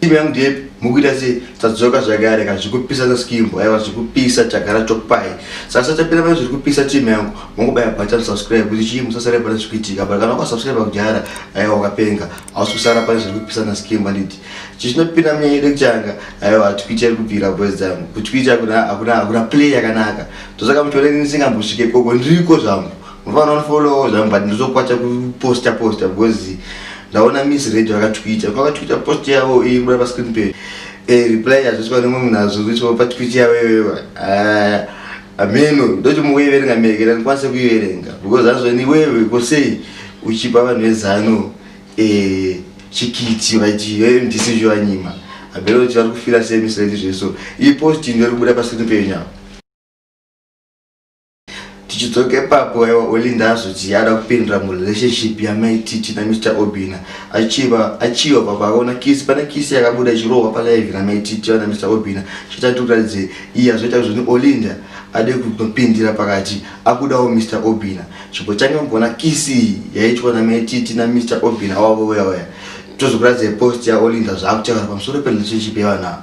Team yangu ndepi mukuita se tadzoka zvakare ka zvikupisa za skimbo aiwa zvikupisa chagara chopai sasa tapira pane zvikupisa team yangu mongobaya button subscribe kuti chii musasare pane zvikuitika but kana ukasubscribe kudhara aiwa ukapenga hausi kusara pane zvikupisa na skimbo anditi chichinopinda munyanya yedu kuchanga aiwa hatikuita iri kubvira boys dzangu kuti kuita hakuna hakuna hakuna play yakanaka tosaka muchiona ini ndisingambosvike koko ndiriko zvangu Mfana unfollow zvangu but ndizokwacha kuposta posta because ndaona miss radio vakatwita vakatwita post yavo iyi kuda pa screen page eh reply yazviswa nemwe munhu azozviswa pa tweet yavo iyoyo ah ameno ndoti mukuiverenga mekera ndikwanise kuiverenga because azvani iwewe ko sei uchipa vanhu vezano eh chikiti vaiti eh ndisi zvanyima abelo kuti vari kufira sei miss radio zveso iyi post ndiri kubuda pa screen page now tichidzoke papo aiwa olinda azoti yada kupindira murelationship yamaititi namr obina achiva achiva papo akaona kisi pane kisi yakabuda ichirohwa palaivi namaititi vana mr obina chitatu kutaridze iye azoita zvoni olinda ade kunopindira pakati akudawo mr obina chipo change mugona kisi iyi yaitwa namaititi namr obina wavo weyawaya tozokuratidza post yaolinda zvaakutaura pamusoro perelationship yevanavo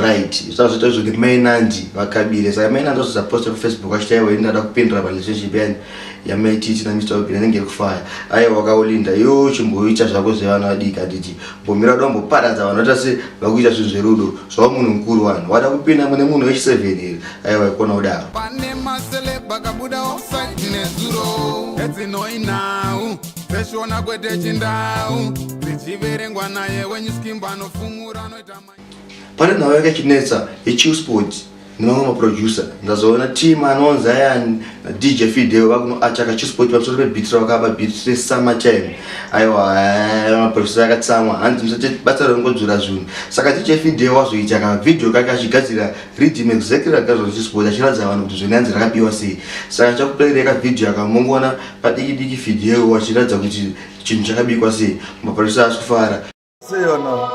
right zvazvita zvokuti mainanji vakabire saka mainanji vazvizaposta kufacebook vachita iwe ndada kupindura parelationship yani yamaititi namr obin anenge iri kufaya aiwa wakaolinda yo chimboita zvako zvevana vadiki handiti mbomira kuda kumboparadza vanhu vata se vakuita zvinhu zverudo zvavo munhu mukuru vanhu wada kupinda mune munhu wechiseven here aiwa ikona kudaro pane maselebakabuda osainezuro edzinoinau zveshona kwete chindau zvichiverengwa naye wenyu skimbo anofumura anoita pane nhau yakachinetsa yechiu sports nemamwe maproducer ndazoona team anonzi ayani dj fideo vakunoachaka chisport pamusoro pebit ravakaba bit resummer time aiwa maproducer akatsamwa hanzi musati basa rongodzura zvinhu saka dj fideo wazoita kavideo kake achigadzira redim exactly ragadzwa nechisport achiratidza vanhu kuti zvenanzi rakabiwa sei saka ndichakutoireka video akamongona padiki diki fidheo wachiratidza kuti chinhu chakabikwa sei maparisa asi kufara sei vana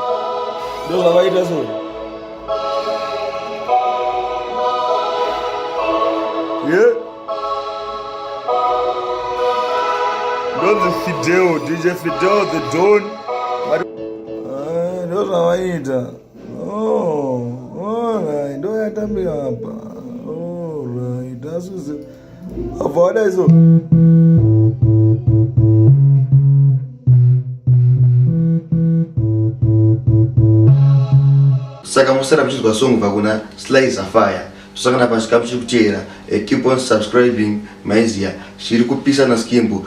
ndo zvavaita so ye ndonzi fidheo dj fidheo the don ndo zvavaita oh, oh, ndo yatambira apa oh, right. Avona izo. Saka musara muchizwa song bva kuna Sly Sapphire. Tusangana pasi kamuchiri kuteera. Eh, keep on subscribing Maizia. Zviri kupisa na Skimbo.